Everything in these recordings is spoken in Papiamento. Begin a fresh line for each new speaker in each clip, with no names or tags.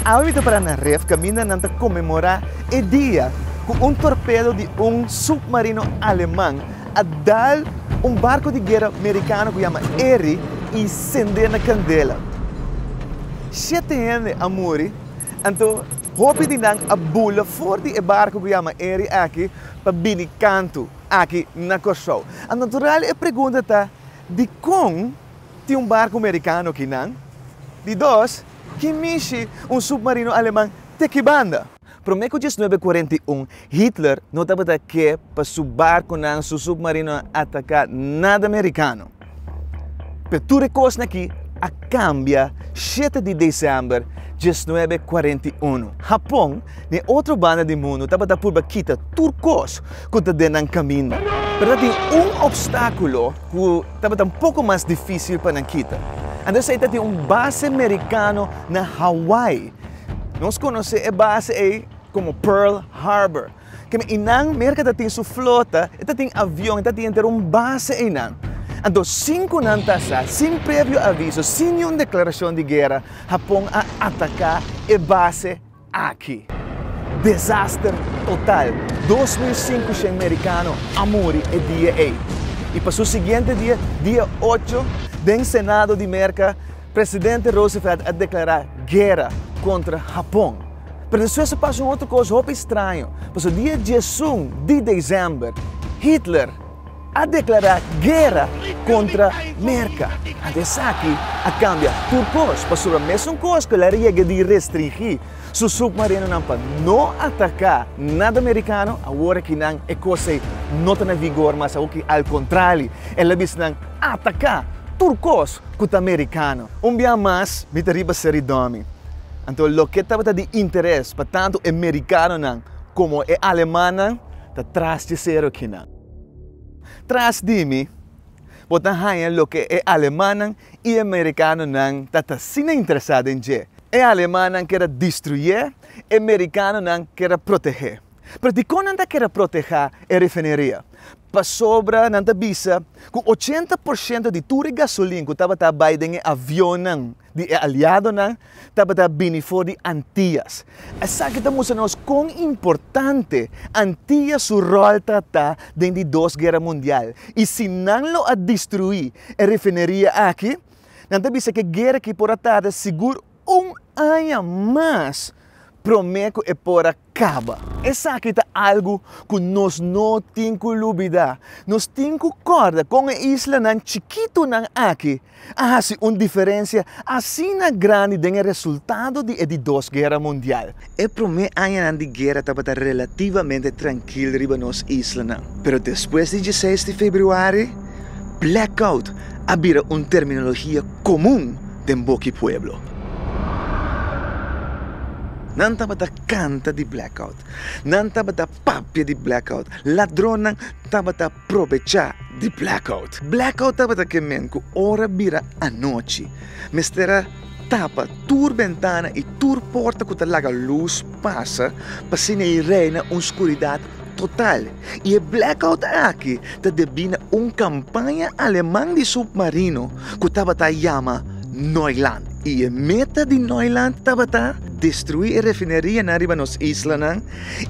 Awe mi ta para na ref kaminda nan ta konmemorá e dia ku un torpedo di un supmarino aleman a dal un barku di guera merikano ku yama Erie i sendé na kandela. Shete hende a muri. Anto, hopi di nan a bula for di e barco cu yama Eri aki pa bini kantu aki na Corsou. A natural e pregunta ta, Dicon tin un barco Mericano aki nan? Di dos, Ki mishi un submarino Aleman te ki banda? Prome cu diesnuebe kuarenta i un Hitler no tabata ke pa su barconan, su submarinonan ataca nada Mericano. Pe tur e kosnan akí a kambia shete di desèmber diesnuebe kuarenta i unu. Hapon, den e otro banda di mundu, tabata purba kita tur kos ku ta den nan kaminda. Pero ta tin un opstákulo ku tabata un poko mas difísil pa nan kita. Anto esei ta tin un base merikano na Hawaii. Nos konosé e base ei komo Pearl Harbor. Kende einan Merka ta tin su flota, e ta tin avion, e ta tin henter un base einan. Anto sinkunan ta sa, sin previo aviso, sin niun deklarashon di guera, Hapon a ataka e base aki. Desaster total. Dos mil sinku shen merikano a muri e dia ei. I pa su siguiente dia, dia ocho, den Senado di Merka, Presidente Roosevelt a deklará guera kontra Hapon. Pero despues a pasa un otro kos hopi straño, pasobra dia diesun di desèmber, Hitler a deklará guera kontra Merka. Ante esaki a kambia tur kos, pasobra mesun kos ku el a riega di restringí su supmarinonan pa no ataká nada merikano, awor aki nan e kos ei no ta na vigor mas, awor ki al kontrali, el a bisa nan, Ataká tur kos! ku ta merikano. Un biaha mas mi ta riba Seri dòmi, anto loke tabata di interes pa tantu e merikanonan komo e alemannan ta tras di serokinan. Tras di mi bo ta haña loke e alemannan i e merikanonan ta ta asina interesá den dje, e alemannan keda distruyé, e merikanonan keda protehé. Pero dikon nan ta kere protehá e refineria? Pasobra nan ta bisa ku ochenta por shento di tur e gasolin ku tabata bai den e avionnan di e aliadonan tabata bini for di Antias. Esaki ta mustra nos kon importante Antias su ròl ta ta den di Dos Guera Mundial. I si nan lo a destruí e refineria aki, nan ta bisa ku e guera aki por a tarda sigur. un aña mas promé ku e por a kaba. Esaki ta algu ku nos no tin ku lubidá. Nos tin ku kòrda kon e islanan chikitunan aki a hasi un diferensia asina grandi den e resultado di e di Dos Guera Mundial. E promé añanan di guera tabata relativamente trankil riba nos islanan. Pero despues di dieseis di februari, blackout a bira un terminologia komun den boki pueblo. Nan tabata kanta di blackout, nan tabata papia di blackout, ladronnan tabata probechá di blackout. Blackout tabata ke men ku ora bira anochi mester a tapa tur bentana i tur porta ku ta laga lus pasa pa asina i reina un skuridat total. I e blackout aki ta debí na un kampaña aleman di supmarino ku tabata yama Neuland i e meta di Neuland tabata destruí e refinerianan riba nos islanan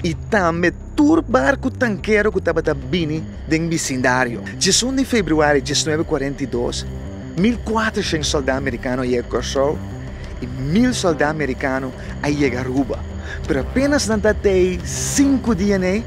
i tambe tur barku tankero ku tabata bini den bisindario. Djesun di februari diesnuebe kuarenta i dos, mil kuatrashens sòldá merikano a yega Kòrsou i mil sòldá merikano a yega Aruba. Pero apenas nan ta tei sinku dia nei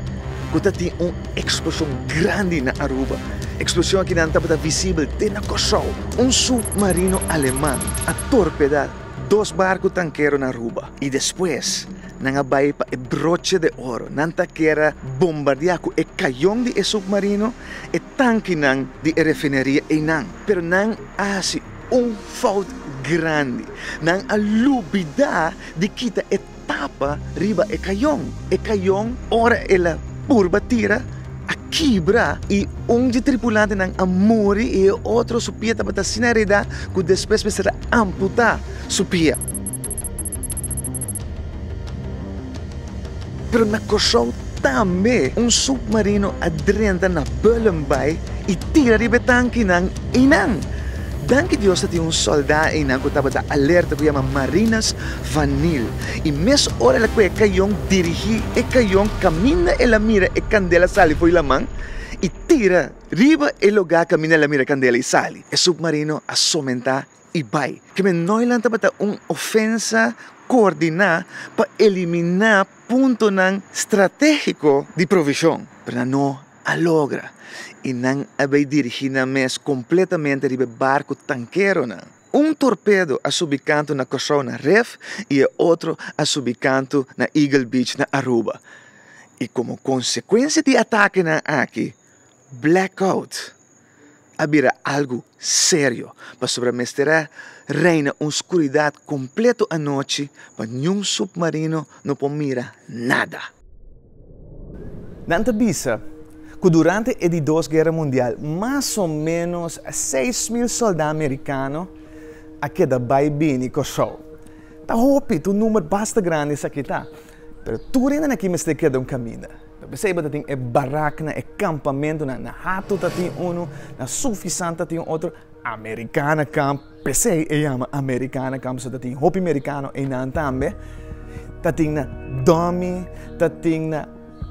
ku ta tin un eksploshon grandi na Aruba. Eksploshon aki nan tabata visibel te na Kòrsou. Un submarino aleman a torpedá dos barku tankero na Aruba i despues Nan a bai pa e broche de oro. Nan ta kier a bombardia cu e cayon di e submarino e tankinan di e refineria eynan. Pero nan a haci un fout grandi. Nan a lubida di kita e tapa riba e cayon. E cayon ora el a purba tira a kibra y un di tripulantenan a muri y e otro su pia tabata asina reda cu despues mester a amputa su pia. Pero na Kòrsou tambe un submarino a drenta na Bullen Bay i tira riba e tankinan einan. Danki Dios ta tin un sòldá einan ku tabata alerta ku yama Marinas van Niel i mes ora el a kue e kayon dirigí e kayon kaminda el a mira e kandela sali fo'i laman i tira riba e lugá kaminda el a mira e kandela i sali. E submarino a somentá i bai. Kende noinan tabata un ofensa koordiná pa eliminá puntonan stratégiko di provishon, pero nan no a logra i nan a bai dirigí nan mes kompletamente riba e barku tankeronan. Un torpedo a subi kantu na Kòrsou na Ref i e otro a subi kantu na Eagle Beach na Aruba, i komo konsekuensia di atakenan aki, Blackout a bira algu serio pasobra mester a reina un skuridat kompleto anochi pa niun supmarino no por mira nada. Nan ta bisa ku durante e di Dos Guera Mundial mas o ménos seis mil soldá merikano a keda bai bini Kòrsou. Ta hopi, ta un number basta grandi sa kita. Pero tur hende aki mester keda un kaminda. Pa p'esei bo ta tin e baraknan, e kampamentunan. Na Hato ta tin unu, na Sufisan ta tin otro. Amerikana Kamp, p'esei e yama Amerikana Kamp, pasobra ta tin hopi merikano einan tambe. Ta tin na Domi, ta tin na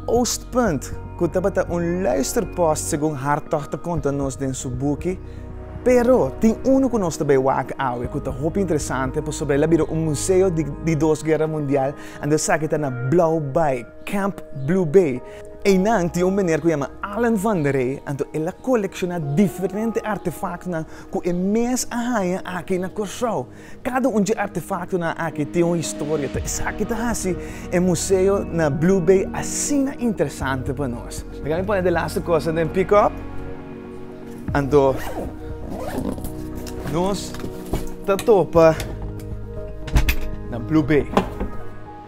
Oostpunt, ku tabata un luisterpòst, segun Hartog ta konta nos den su buki. Pero, tin unu ku nos ta bai wak awe ku ta hopi interesante pasobra el a bira un museo di dos guera mundial, ande esaki ta na Blauw Bay, Camp Blue Bay. Einan tin un meneer ku yama Allen van der Rey, anto el a kolekshona diferente artefaktonan ku e mes a haña aki na Kòrsou. Kada un dje artefaktonan aki tin un historia, ta esaki ta hasi e museo na Blue Bay asina interesante pa nos. Riba mi pone de laster kosa den pick-up, anto nos ta topa na Blue Bay.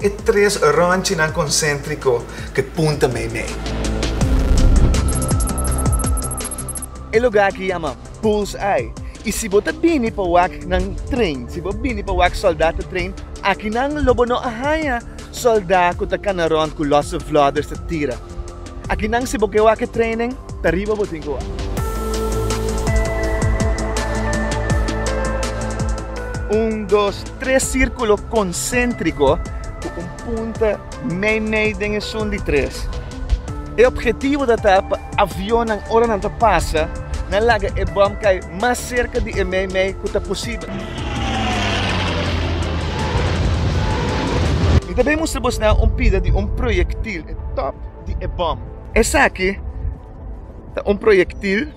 E tres rònchinan konsèntriko ku punta meimei. E lugá aki yama Bull's Eye i si bo ta bini pa wak nan tren, si bo bini pa wak sòldá ta tren, akinan lo bo no a haña sòldá ku ta kana rònt ku lòse vlòders ta tira. Akinan si bo ke wak e training ta riba bo tin ku wak. Un dos tres sirkulo konsentriko ku un punta mei mei den esun di tres. E opgetivo ta ta pa avionnan ora nan ta pasa nan laga e bòm kai mas serka di e mei mei ku ta posibel. Mi ta bin mustra bosnan un pida di un proyektil. E top di e bom. Esaki ta un proyektil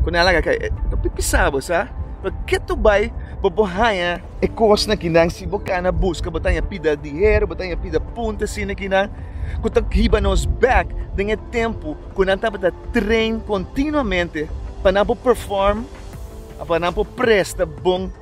ku nan a laga kai. Ta pipi sabo, sa? Pero ke tur bai bo por haña e kosnan kinan si bo kana buska, bo ta haña pida diher, bo ta haña pida punto asina kinan ku ta hiba nos bèk den e tempu ku nan tabata train kontinuamente pa nan por perform, pa nan por presta bon.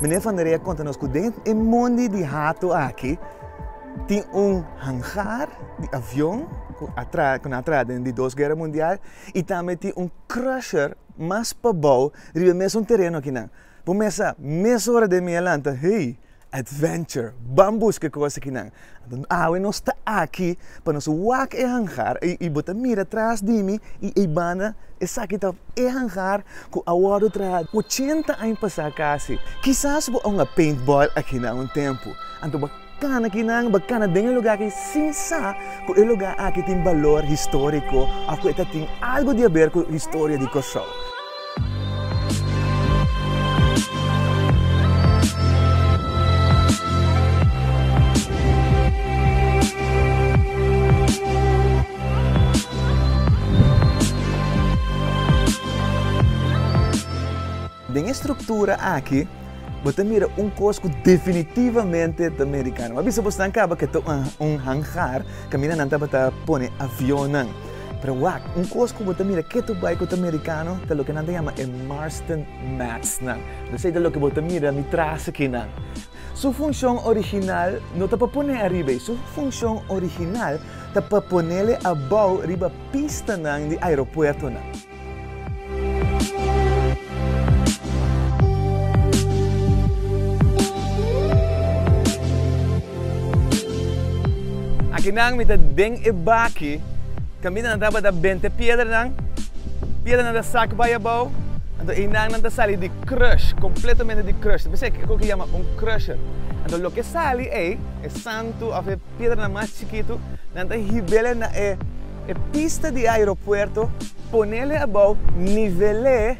Meneer Van der Rey a konta nos ku den e mondi di hato aki tin un hangar di avion ku a tra ku nan a traha den di Dos Guerra Mundial i tambe tin un crusher mas pabou riba e mesun tereno aki nan. Bo mester sa, mesora den mi a lanta, hey, adventure, ban buska e kos aki nan. Anto awe nos ta aki pa nos wak e hangar, i bo ta mira tras di mi, i ei banda, esaki ta e hangar ku a wòrdu traha ochenta aña pasá kasi. Kisas bo a un a paintball akinan un tempu, anto bo a kana kinan, bo a kana den e lugá aki sin sa ku e lugá aki tin balor históriko òf ku e ta tin algu di aber ku historia di Kòrsou. Den e struktura aki bo ta mira un kos ku definitivamente ta merikano. M'a bisa bo, nan kaba ke ta un hangar kaminda nan tabata pone avionnan. Pero wak, un kos ku bo ta mira ketu bai ku ta merikano ta loke nan ta yama e Marston Matsnan. Mi sa i ta loke bo ta mira mi tras aki nan. Su funshon original no ta pa pone ariba ei. Su funshon original ta pa ponele abou riba pistanan di aeropuertonan. Akinan mi ta den e baki kaminda nan tabata benta e piedranan piedranan ta sak bai abou anto einan nan ta sali di crush completamente di crush ta bisa e kiko ki yama un crusher anto loke sali ei e santo of e Piedra mas chikitu nan ta hibele na e pista di aeropuerto, ponele abou nivele,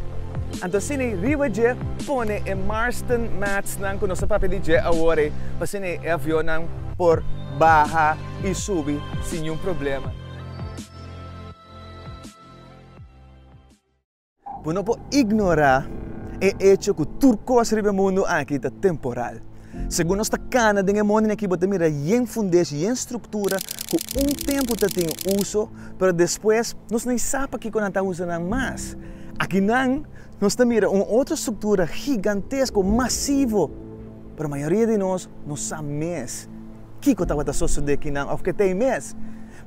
anto asina riba dje pone e Marston matsnan ku nos ta papia di dje awor ei, pa asina e avionnan por baha i subi sin niun problema. Bo no por ignorá e echo ku tur kos riba e mundu aki ta temporal. Segun nos ta kana den e mondinan aki bo ta mira yen fundeshi, yen struktura ku un tempu ta tin uso, pero despues nos no i sa pa kiko nan ta usa nan mas. Akinan nos ta mira un otro struktura gigantesko, masivo, pero mayoria di nos no sa mes Kiko tabata sosodé ku nan òf ke ta ei mes?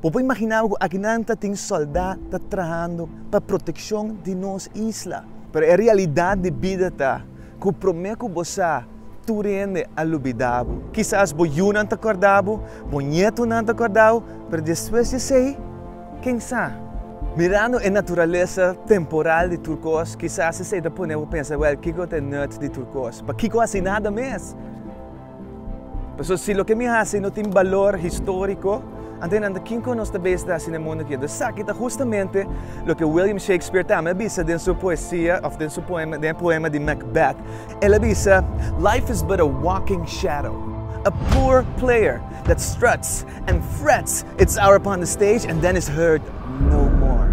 Bo por imaginaba ku akinan ta tin sòldá ta trahando pa protekshon di nos isla. Pero e realidat di bida ta ku promé ku bo sa, tur hende a lubidá bo. Kisas bo yunan ta kòrda bo, bo ñetunan ta kòrda bo, pero despues di esei, ken sa? Mirando e naturalesa temporal di tur kos, kisas esei ta pone bo pensa, Wèl, kiko ta e nùt di tur kos? Pa kiko hasi nada mes? Pasobra si loke mi hasi no tin balor históriko, anto nan ta kin kon nos ta bai sta hasi na mundu aki? Esaki ta hustamente loke William Shakespeare ta ami a bisa den su poesia òf den su poema, den e poema di Macbeth. El a bisa, Life is but a walking shadow, a poor player that struts and frets its hour upon the stage and then is heard no more.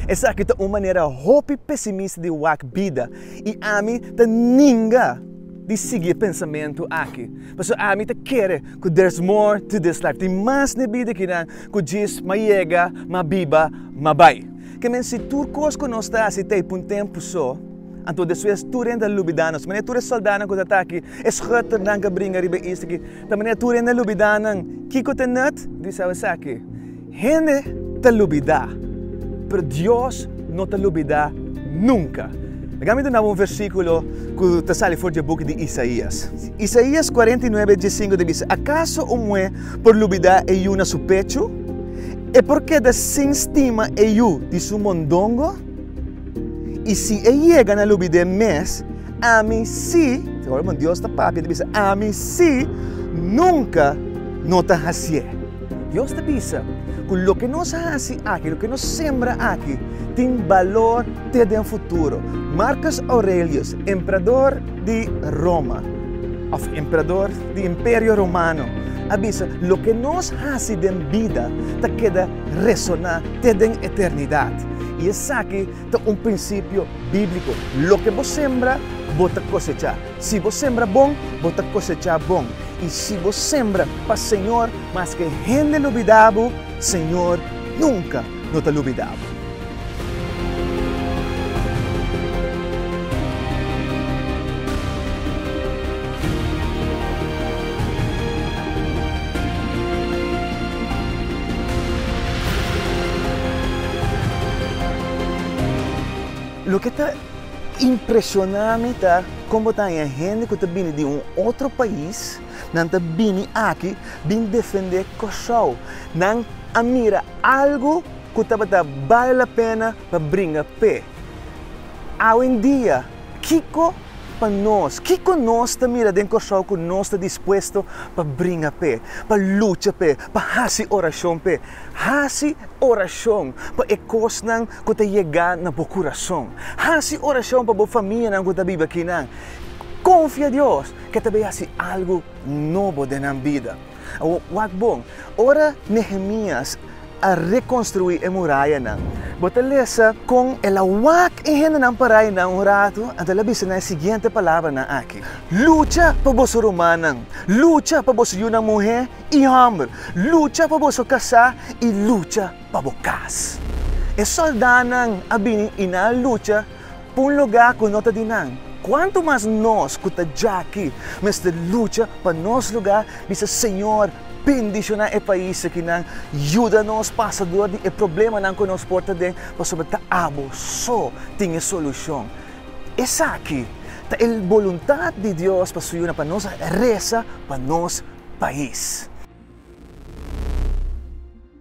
Esaki ta un manera hopi pesimista di wak bida, i ami ta ninga. di sigui e pensamentu aki, pasobra ami ta kere ku there is more to this life. Tin mas na e bida aki nan ku djis ma yega, ma biba, ma bai. Ke men si tur kos ku nos ta hasi ta e pa un tempu so, anto despues tur hende a lubidá nos. Manera tur e soldánan ku ta ta aki, e schutter nan ku a bringa riba e isla aki, ta manera tur hende a lubidá nan kiko ta nüt, di sabi esaki. Hende ta lubidá, pero Dios no ta lubidá nunka. Laga mi dunaba un versíkulo ku ta sali for dje buk di Isaías. Isaías kuarenta i nuebe dje sinku ta bisa, Akaso un muhé por lubidá e yu na su pechu? E por keda sin stima e yu di su mondongo? I si e yega na lubid'é mes, ami sí, ta horaban Dios ta papia, ta bisa, ami sí nunka no ta hasié. Dios ta bisa ku loke nos hasi aki, loke nos sembra aki, tin balor te den futuro. Marcus Aurelius, emperador di Roma, òf emperador di Imperio Romano, a bisa, Loke nos hasi den bida ta keda resoná te den eternidat. I esaki ta un prinsipio bíbliko, loke bo sembra, bo ta kosechá. Si bo sembra bon, bo ta kosechá bon, i si bo sembra pa Señor, maske hende lubidá bo, Señor nunka no ta lubidá bo. Loke ta. Impresioná mi ta kon bo ta haña hende ku ta bini di un otro pais, nan ta bini aki bin defendé Kòrsou. Nan a mira algu ku tabata bale la pena pa bringa p'e. Awendia, kiko pa nos, kiko nos ta mira den Kòrsou ku nos ta dispuesto pa bringa p'e, pa lucha p'e, pa hasi orashon p'e? Hasi orashon pa e kosnan ku ta yega na bo kurason. Hasi orashon pa bo famianan ku ta biba aki nan. Konfia Dios ke ta bai hasi algu nobo den nan bida. Wak bon, ora Nehemias a rekonstruí e murayanan, bo ta lesa kon el a wak e hendenan parainan un ratu anto el a bisa nan e siguiente palabranan aki, Lucha pa boso rumannan, lucha pa boso yunan muhé i hòmber, lucha pa boso kasá i lucha pa bo kas. E sòldánan a bini i nan a lucha pa un lugá ku no ta di nan. Kuantu mas nos ku ta djaki mester lucha pa nos lugá, bisa Señor bendishoná e pais akinan, yuda nos pasa dor di e problemanan ku nos por ta den, pasobra ta abo so tin e solushon. Esaki ta e boluntat di Dios pa su yunan, pa nos resa pa nos pais.